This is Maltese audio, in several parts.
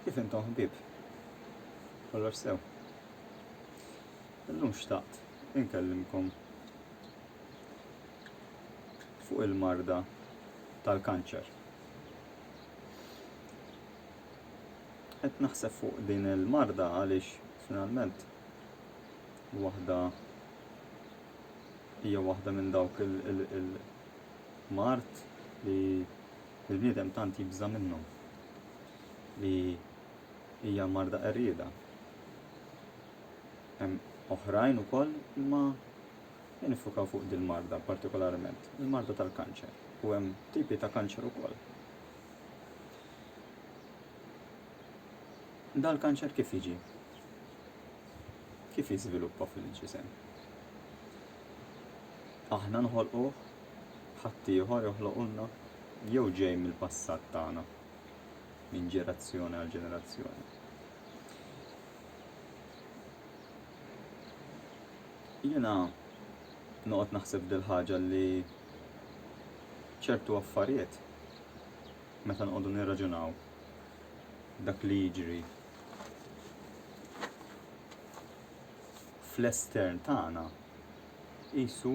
Kif intom ħbib? Kollox sew. Illum xtaqt inkellimkom fuq il-marda tal-kanċer. Qed naħseb fuq din il-marda għaliex finalment waħda hija waħda minn dawk il-mard li l-bniedem tant jibża' minnhom li hija marda qerrieda. Hemm oħrajn ukoll imma nifukaw fuq din marda partikolarment, il-marda tal-kanċer u hemm tipi ta' kanċer ukoll. Dal-kanċer kif jiġi? kif jiżviluppa fil-ġisem. Aħna nħolquh, ħaddieħor joħloqulna jew ġej mill-passat tagħna minn ġerazzjoni għal ġenerazzjoni. Jiena noqgħod naħseb dil ħaġa li ċertu affarijiet meta nqogħdu nirraġunaw dak li jiġri fl-estern tagħna qisu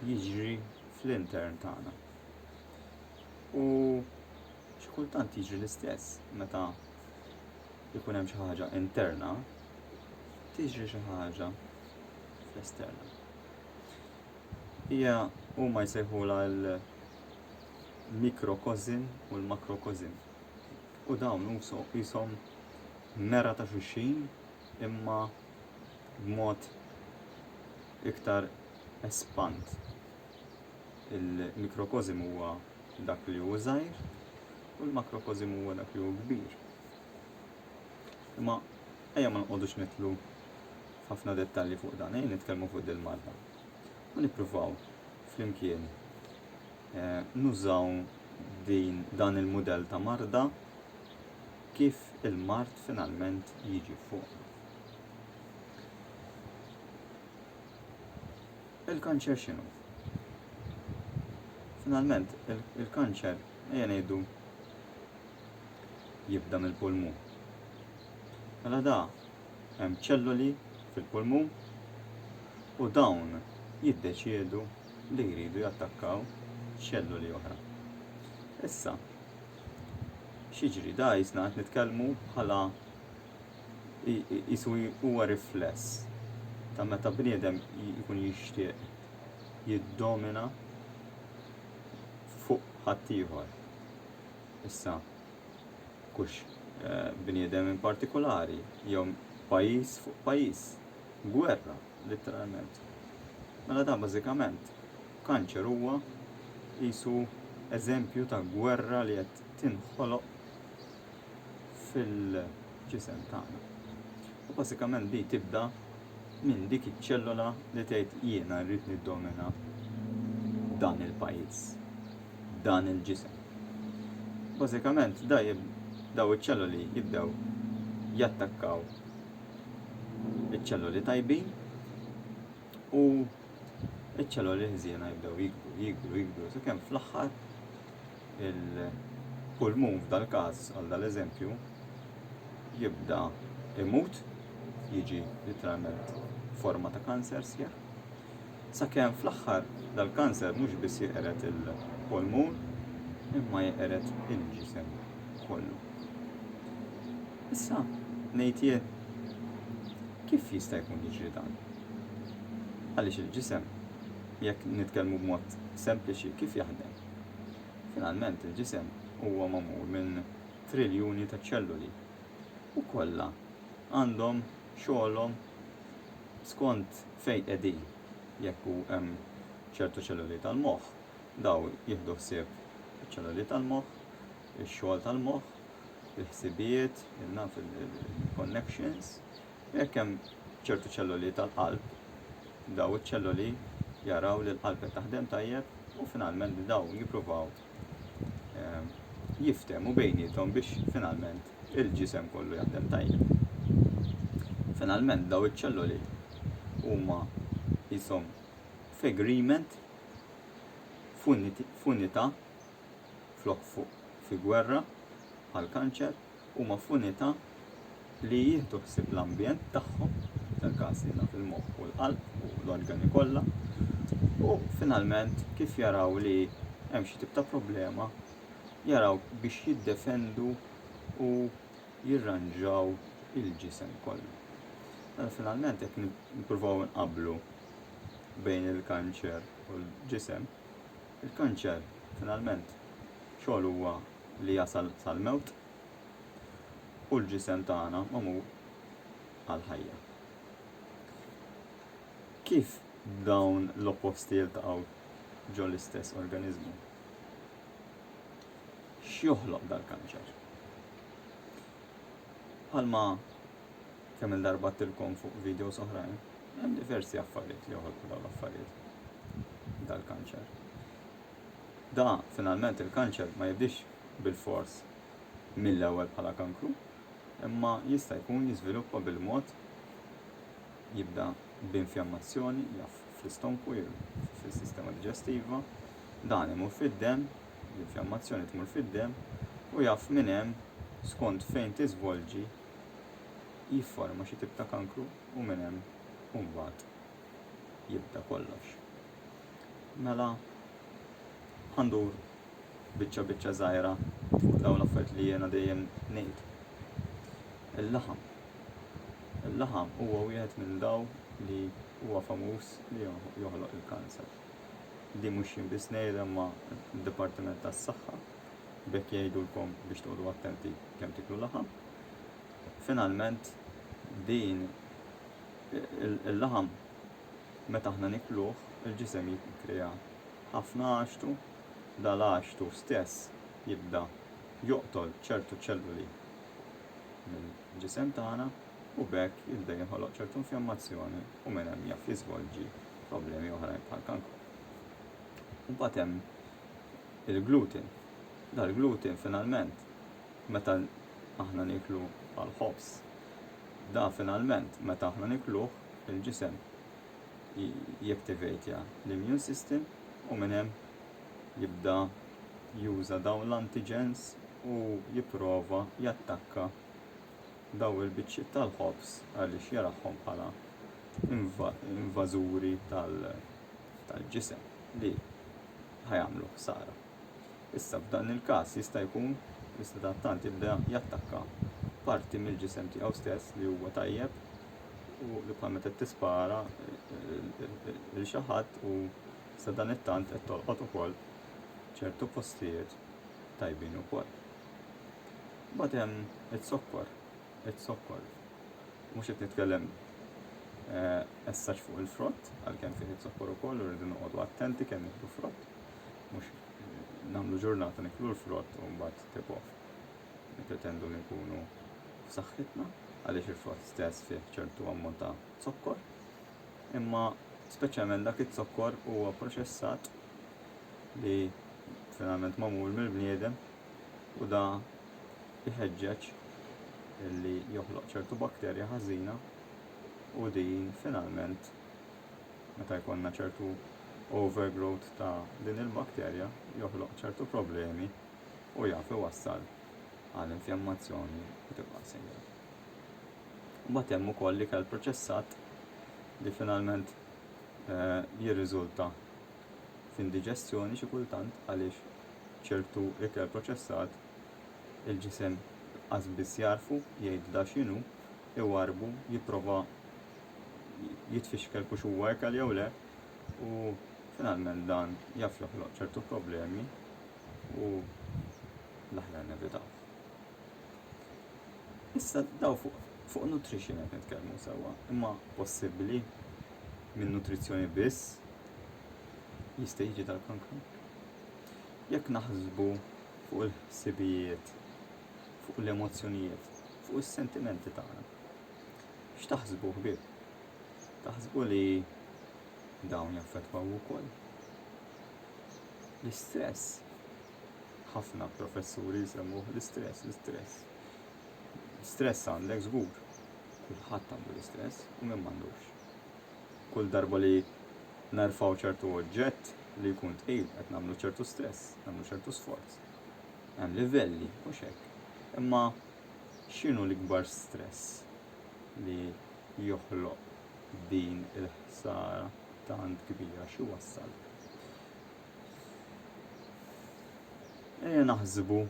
jiġri fl-intern tagħna. U xi kultant jiġri l-istess meta jkun hemm xi ħaġa interna, tiġri xi ħaġa fl-esterna. Hija huma jsejħula l-mikrokozin u l-makrokozin. u dawn uso qishom mera ta' xulxin imma b'mod iktar espand. Il-mikrokożim huwa dak li hu żgħir u l-makrokożim huwa dak li hu kbir. Imma ejja ma nqogħdux nidħlu f'ħafna dettalji fuq dan, ejja nitkellmu fuq dil-marda u nippruvaw flimkien nużaw dan il-mudell ta' marda kif il-mard finalment jiġi fuq. Il-kanċer x'inhu? Finalment, il-kanċer, ejja ngħidu, jibda mill-pulmun. Mela da, Hemm ċelloli fil-pulmun u dawn jiddeċiedu li jridu jattakkaw ċelloli oħra. Issa, x'jiġri da jisna qed nitkellmu bħala jisu huwa rifless ta' meta bniedem jkun jixtieq jiddomina fuq ħaddieħor. Issa, Mhux bniedem in partikulari jew pajjiż fuq pajjiż. Gwerra, litteralment. Mela dan bażikament, kanċer huwa qisu eżempju ta' gwerra li qed tinħoloq fil-ġisem tagħna. U bażikament di tibda minn dik iċ-ċellola li tgħid jiena rrid niddomina dan il-pajjiż. dan il-ġisem. Bażikament da jib, daw iċ-ċelloli jibdew jattakkaw iċ-ċelloli tajbin u iċ-ċelloli ħżiena jibdew jikbru, jikbru, jikbru, sakemm fl-aħħar il-pulmun f'dal-każ għal dal-eżempju jibda imut jiġi literalment forma ta' kanser sħiħ Sakemm fl-aħħar dal-kanser mhux biss jeqred il-polmun imma jeqred il-ġisem kollu. Issa, ngħid jien, kif jista' jkun jiġri dan? Għaliex il-ġisem, jekk nitkellmu b'mod sempliċi, kif jaħdem? Finalment il-ġisem huwa magħmul minn triljuni ta' ċelluli u kollha għandhom xogħolhom skont Fejn qegħdin? Jekk hu hemm ċertu ċelloli tal-moħħ, dawn jieħdu ħsieb iċ-ċelloli tal-moħħ, ix-xogħol tal-moħħ, il-ħsibijiet, naf, il-connections. Jekk hemm ċertu ċelloli tal-qalb, dawn iċ-ċelloli jaraw li l-qalb qed taħdem tajjeb u finalment dawn jippruvaw ehm, jiftehmu bejniethom biex finalment il-ġisem kollu jaħdem tajjeb. Finalment daw iċ-ċelloli huma jisom f'agreement f'unità flok fuq fi gwerra għal kanċer huma f'unità li jieħdu ħsieb l-ambjent tagħhom, fil-każ li naf il-moħħ u l-qalb u l-organi kollha, u finalment kif jaraw li hemm xi tip ta' problema, jaraw biex jiddefendu u jirranġaw il-ġisem kollu. Mela finalment jekk nippruvaw nqablu bejn il-kanċer u l-ġisem, il-kanċer finalment xogħol huwa li jasal sal-mewt, u l-ġisem tagħna magħmul għall-ħajja. Kif dawn l-opposti jiltaqgħu ġol-istess organiżmu? X'joħloq dal-kanċer? Bħalma kemm il-darba tilkom fuq videos oħrajn, hemm diversi affarijiet li joħolqu dawn l-affarijiet dal-kanċer. Da, finalment, il-kanċer ma jibdiex bilfors mill-ewwel bħala kankru, imma jista' jkun jiżviluppa bil-mod, jibda b'infjammazzjoni, jaf, fl-istonku jew fis-sistema diġestiva, dan imur fid-demm, l-infjammazzjoni tmur fid-demm, u jaf minn hemm, skont fejn tiżvolġi, jifforma xi tip ta' kankru u minn hemm u mbagħad jibda kollox. Mela, ħa ndur biċċa biċċa żgħira fuq dawn l-affarijiet li jiena dejjem ngħid. Il-laħam. Il-laħam huwa wieħed minn daw li huwa famuż li joħloq il-kanser. Di mhux jien biss ngħid imma d-Dipartiment tas-Saħħa bekk jgħidulkom biex toqgħodu attenti kemm tiklu laħam. Finalment din il-laħam meta aħna nikluh, il-ġisem jinkrea ħafna għaxtu, dal-għaxtu stess jibda joqtol ċertu ċelluli mill-ġisem tagħna u b'hekk jibda jinħoloq ċertu infjammazzjoni u minn hemm jaf jiżvolġi problemi oħrajn bħall-kankru. Imbagħad hemm il-gluten. Dal-gluten finalment meta aħna niklu bħal ħobż, da finalment meta aħna nikluh il-ġisem jaktivatja l-immune system u minn hemm jibda juża dawn l-antigens u jipprova jattakka dawn il-biċċiet tal-ħobż għaliex jarahom bħala invażuri tal-ġisem li ħajamlu ħsara. Issa, f'dan il-każ, jista' jkun li sadattant jibda jattakka parti mill-ġisem tiegħu stess li huwa tajjeb u li bħal meta tispara lil xi ħadd u sadanittant qed tolqot ukoll ċertu postijiet tajbin ukoll. Mbagħad hemm iz-zokkor, iz-zokkor. Mhux qed nitkellem essaċ fuq il-frott, għalkemm fih iz-zokkor ukoll u rridu noqogħdu attenti kemm nieħdu frott. Mhux nagħmlu ġurnata niklu l-frott u mbagħad tip off. Nippretendu li nkunu f'saħħitna għaliex il-frott stess fih ċertu ammont ta' zokkor, imma speċjalment dak iz-zokkor huwa proċessat li finalment magħmul mill-bniedem u da jħeġġeġ li joħloq ċertu bakterja ħażina u din finalment meta jkollna ċertu overgrowth ta' din il-bakterja joħloq ċertu problemi u jaf iwassal għal infjammazzjoni u tibqa' sejra. Mbagħad hemm ukoll ikel proċessat li finalment eh, jirriżulta f'indiġestjoni xi kultant għaliex ċertu ikel proċessat il-ġisem qas biss jarfu jgħidla x'inhu iwarrbu, jipprova jitfixkel kux huwa ekel jew le u finalment dan jaf joħloq ċertu problemi u l-aħjar nevitaw. Issa daw fuq fuq nutrition qed nitkellmu sewwa, imma possibbli minn nutrizzjoni biss jista' jiġi tal-kankru? Jekk naħsbu fuq il-ħsibijiet fuq l-emozzjonijiet, fuq is-sentimenti tagħna. X'taħsbu ħbieb? Taħsbu li dawn jaffettwaw ukoll? L-istress. Ħafna professuri jsemmuh l-istress, l-istress. Stress għandek żgur. Kulħadd għandu l-istress u minn m'għandux. Kull darba li narfaw ċertu oġġett li jkun tqil qed nagħmlu ċertu stress, nagħmlu ċertu sforz. Hemm livelli, mhux hekk. Imma x'inhu l-ikbar stress li joħloq din il-ħsara tant kbira x'iwassal? Ejja naħsbu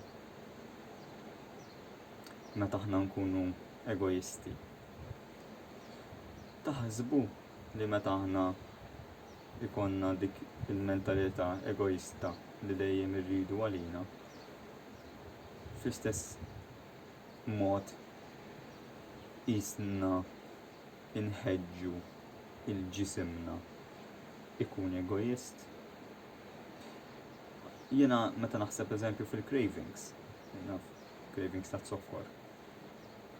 meta aħna nkunu egoisti. Taħsbu li meta aħna ikollna dik il-mentalità egoista li dejjem irridu għalina, fl-istess mod qisna nħeġġu lil ġisimna jkun egoist. Jiena meta naħseb eżempju fil-cravings, naf, cravings ta' zokkor.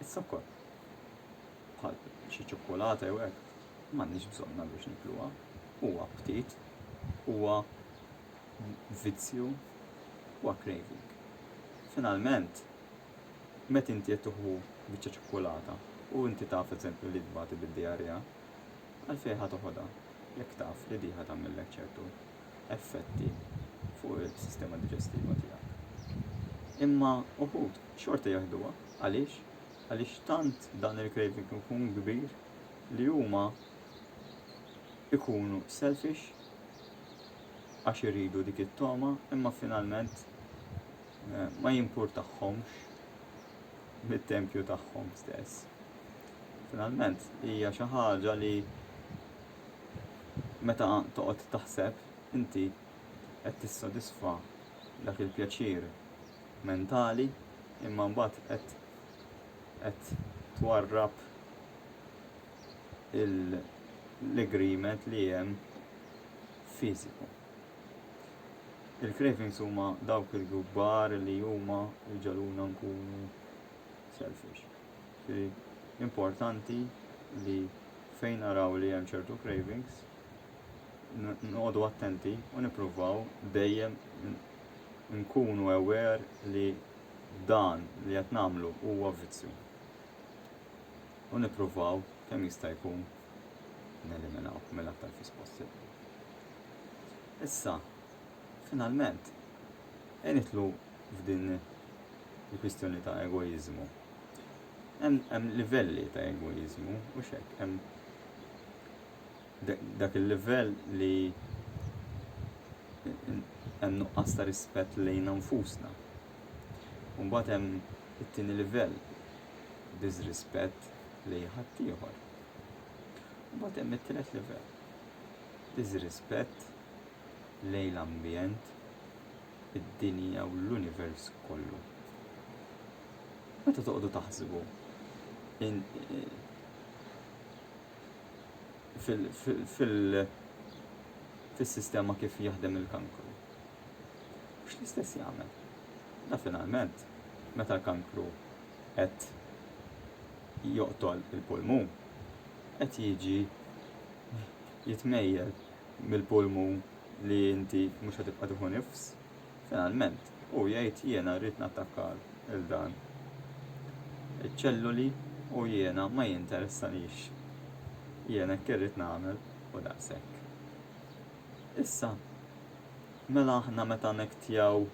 Is-zokkor. bħal xi ċokkolata jew hekk, m'għandniex bżonnha biex nikluha. Huwa aptit, huwa vizzju, huwa craving. Finalment, meta inti qed tuħu biċċa ċokkolata u inti taf eżempju li tbati bid-diarrea, għalfejn ħa toħodha jekk taf li diħa tagħmillek ċertu effetti fuq is-sistema diġestiva tiegħek. Imma uħud xorta jeħduha għaliex Għaliex tant dan il-craving ikun kbir li huma ikunu selfish għax iridu dik it-togħma imma finalment ma jimpurtahomx mit-tempju tagħhom stess. Finalment hija xi ħaġa li meta toqgħod taħseb inti qed tissodisfa dak il-pjaċir mentali imma mbagħad qed qed twarrab l-agreement li hemm fiżiku. Il-cravings huma dawk il-kbar li huma ġaluna nkunu selfish. Importanti li fejn naraw li hemm ċertu cravings, noqogħdu attenti u nippruvaw dejjem nkunu aware li dan li qed nagħmlu huwa vizzju u nippruvaw kemm jista' jkun neliminaw mill-aktar fis possibbli. Issa, finalment, e nitlu f'din il-kwistjoni ta' egoizmu. Hemm livelli ta' egoizmu u xek, hemm dak il-livell li hemm nuqqas ta' rispett lejn nfusna. Mbagħad hemm it-tieni livell, diżrispett lejn ħaddieħor. Mbagħad hemm it-tielet livell, diżrispett lejn l-ambjent, id-dinja u l-univers kollu. Meta toqgħodu taħsbu in, fis-sistema kif jaħdem il-kankru. Mhux l-istess jagħmel. Da finalment, meta l-kankru qed joqtol il-pulmun, qed jiġi jitmejjel mill-pulmun li inti mhux qed tibqa' tieħu nifs, finalment Hu jgħid, Jiena rrid nattakka 'l dan iċ-ċelluli u jiena ma jinteressanix. Jien hekk irrid nagħmel u daqshekk. Issa, mela aħna meta nektjaw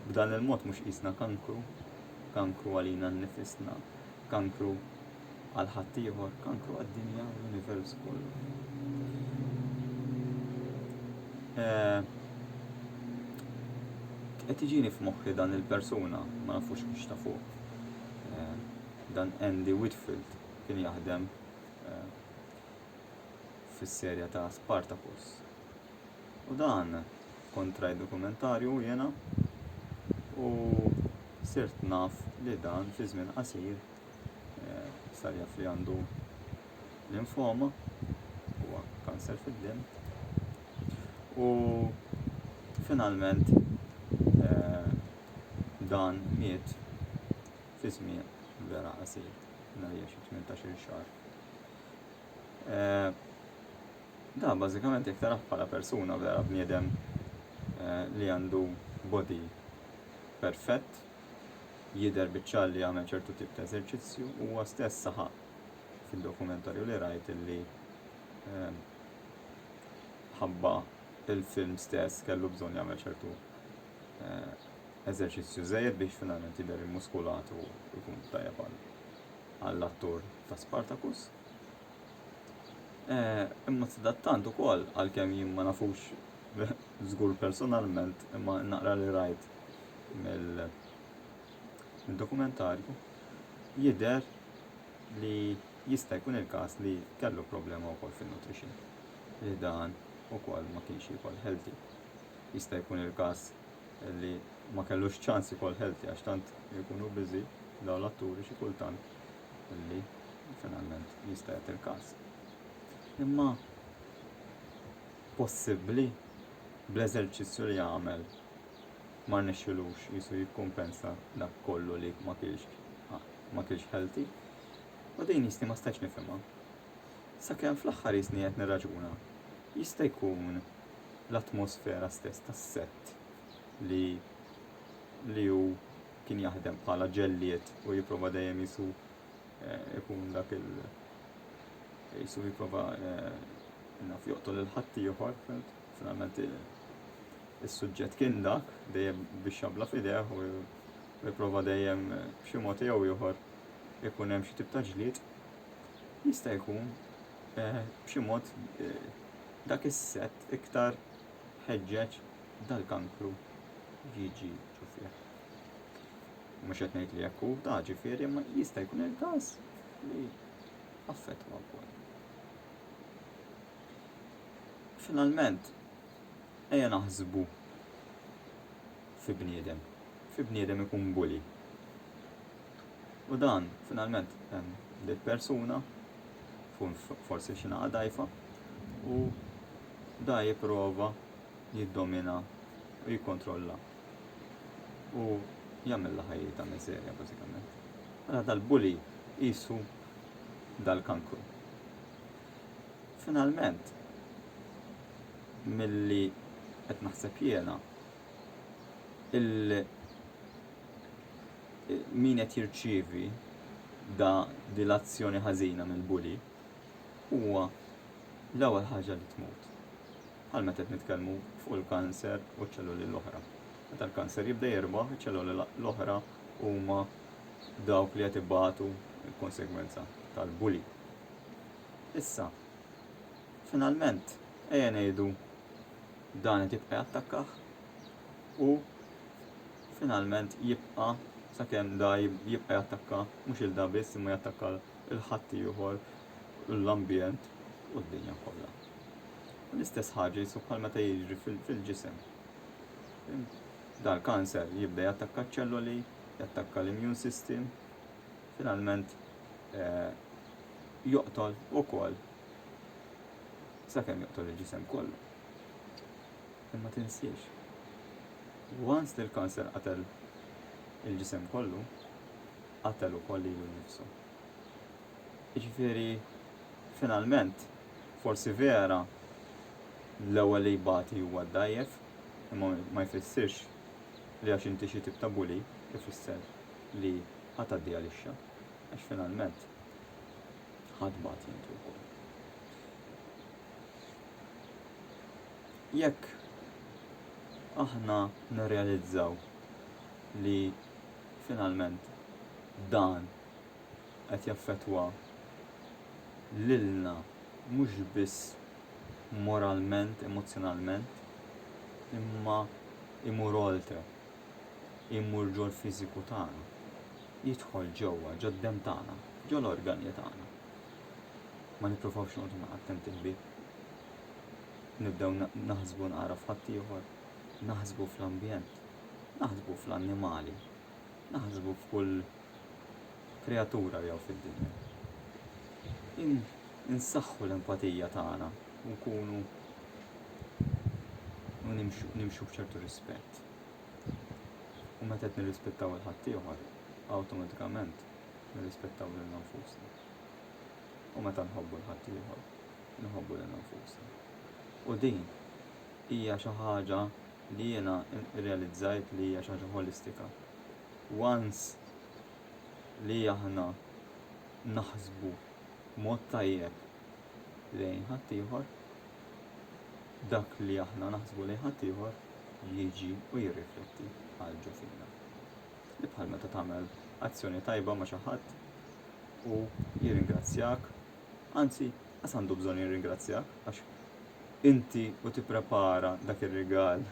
b'dan il-mod mhux qisna kankru, kankru għalina nnifisna, kankru Għal ħaddieħor, kankru għad-dinja u l-univers kollu. Eh, qed iġini f'moħħi dan il-persuna, ma nafux biex ta' fuq. Eh, dan Andy Whitfield kien jaħdem eh, fis-serja ta' Spartacus. U dan kontra dokumentarju jena u sirt naf li dan fi żmien qasir eh, sar jaf li għandu l-infoma huwa kanser fid-din. U finalment eh, dan miet fi żmien vera qasir, nhar 18 xahar. Eh, da, bażikament jekk taraħ bħala persuna vera bniedem eh, li għandu body perfett, jidher biċ-ċar li għamel ċertu tip ta' eżerċizzju, huwa stess saħaq fid-dokumentarju li rajt li ehm, ħabba il-film stess kellu bżonn jagħmel ċertu eh, eżerċizzju żejjed biex finalment jidher immuskulat u jkun tajjeb għall-attur ta' Spartacus. Eh, imma sadattant ukoll għalkemm jien ma nafux żgur personalment imma naqra li rajt mill-dokumentarju jidher li jista' jkun il-każ li kellu problema wkoll fin-nutrition li dan ukoll ma kienx jikol healthy. Jista' jkun il-każ li ma kellux ċans ikol healthy għax tant ikunu biżi daw l-atturi xi kultant li finalment jista' jagħti l-każ. Imma possibbli bl-eżerċizzju li għamel ma rnexxilux jisu jikkumpensa dak kollu li ma kienx ma kienx healthy. U din jisni ma stajx nifhimha. Sakemm fl-aħħar jisni qed nirraġuna, jista' jkun l-atmosfera stess tas-sett li li hu kien jaħdem bħala ġellied u jipprova dejjem jisu eh, ikun dak il jisu jipprova eh, naf joqtol il-ħadd ieħor, Finalment is-suġġett kien dak, dejjem bix-xabla f'idejh u jipprova dejjem b'xi mod jew ieħor ikun hemm xi tip ta' ġlied, jista' jkun eh, b'xi mod eh, dak is-sett iktar ħeġġeġ dal-kankru jiġi ġufieħ. Mhux qed ngħid li jekk hu ta' ġifieri ma jista' jkun il-każ li affettwa wkoll. Finalment, ejja naħsbu fi bniedem. Fi bniedem ikun bully. U dan, finalment, hemm dil persuna, tkun forsi xinaqa dajfa, u da jipprova jiddomina u jikkontrolla. U jagħmilha ħajjita miżerja bażikament. Mela dal-bully qisu dal-kankru. Finalment, milli qed naħseb jiena, il min qed jirċievi da di l-azzjoni ħażina mill-bully huwa l-ewwel ħaġa li tmut. Għal meta qed nitkellmu fuq il-kanser u ċ-ċelluli l-oħra. Meta l-kanser jibda jirbaħ, iċ-ċelluli l-oħra huma dawk li qed ibatu l-konsegwenza tal-bully. Issa, finalment, ejja ngħidu dan qed jibqa' jattakkah u finalment jibqa' sakemm da jibqa' jattakka mhux il da biss imma jattakka l-ħadd ieħor l-ambjent u d-dinja kollha. U l-istess ħaġa jisu bħal meta jiġri fil-ġisem. Dal-kanser jibda jattakka ċ-ċelloli, jattakka l-immune system, Finalment joqtol ukoll sakemm joqtol il-ġisem kollu. Imma tinsiex, once li l-kanser qatel il-ġisem kollu, qatel ukoll lilu nnifsu. Jiġifieri finalment forsi vera l-ewwel li jbati huwa d-dgħajjef, imma ma jfissirx li għax inti xi tip ta' bully ifisser li ħa tgħaddi għalixxa għax finalment ħa tbati inti wkoll. Jekk aħna nirrealizzaw li finalment dan qed jaffettwa lilna mhux biss moralment, emozzjonalment, imma imur oltre. jmur ġol-fiżiku tagħna, jidħol ġewwa ġod-demm tagħna, ġol-organi tagħna. Ma nippruvawx noqogħdu ma' attenti ħbieb. Nibdew naħsbu naqra f'ħaddieħor, naħsbu fl-ambjent, naħsbu fl-annimali, naħsbu f'kull kreatura li hawn fid-dinja. Insaħħu l-empatija tagħna u nkunu u nimxu b'ċertu rispett. U meta qed nirrispettaw il ħaddieħor, awtomatikament nirrispettaw lil nfusna. U meta nħobbu l ħaddieħor, nħobbu lil nfusna. U din hija xi ħaġa li jiena rrealizzajt li hija xi ħaġa holistika. Once li aħna naħsbu mod tajjeb lejn ħaddieħor, dak li aħna naħsbu lejn ħaddieħor jiġi u jirrifletti għal ġo fina. Li bħal meta tagħmel azzjoni tajba ma' xi ħadd u jirringrazzjak, anzi qas għandu bżonn jirringrazzjak għax inti u tipprepara dak ir-rigal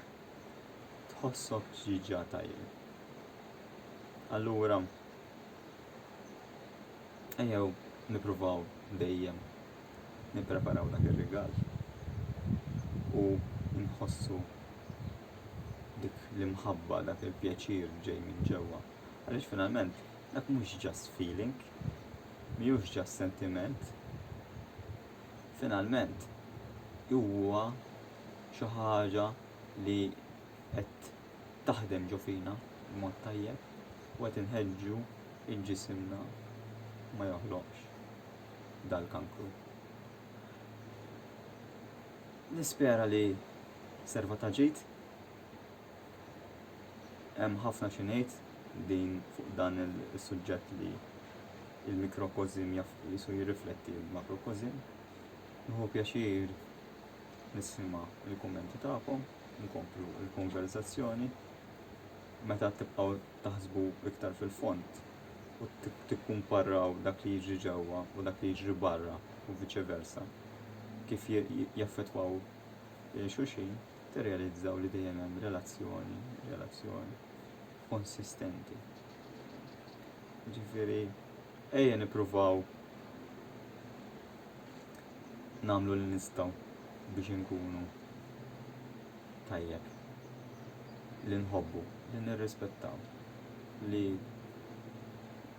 tħossok ġiġa tajjeb. Allura, ejjew nipruvaw dejjem nippreparaw dak ir-rigal u nħossu dik l-imħabba, dak il-pjaċir ġej minn ġewwa. Għaliex finalment dak mhux just feeling, mhux just sentiment, finalment huwa xi ħaġa li qed taħdem ġo fina b'mod tajjeb u qed inħeġġu il-ġisimna ma joħloqx. dal-kankru. Nispera li serva ta' ġid hemm ħafna xi ngħid din fuq dan is-suġġett li il-mikrokozim jisu jirrifletti il-makrokozim. Nħu pjaċir nisma il-kommenti tagħkom, nkomplu il-konverzazzjoni. Meta tibqgħu taħsbu iktar fil-font, u tikkumparraw dak li jiġri ġewwa u dak li jiġri barra u viċe versa, kif jaffettwaw lil xulxin, tirrealizzaw li dejjem hemm relazzjoni, relazzjoni konsistenti. Ġifieri, ejja nippruvaw nagħmlu li nistgħu biex inkunu tajjeb li nħobbu, li nirrispettaw, li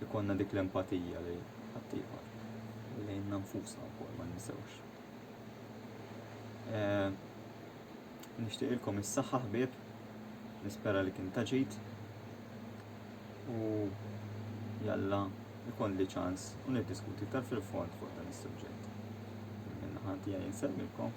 ikonna dik l-empatija li ħaddieħor u lejna nfusna wkoll ma ninsewx. Eh, nixtieqilkom is-saħħa ħbieb, nispera li kien taġit u jalla ikon li ċans u niddiskuti iktar fil-fond fuq dan is-suġġett. Minna ħanti għaj nsemmilkom.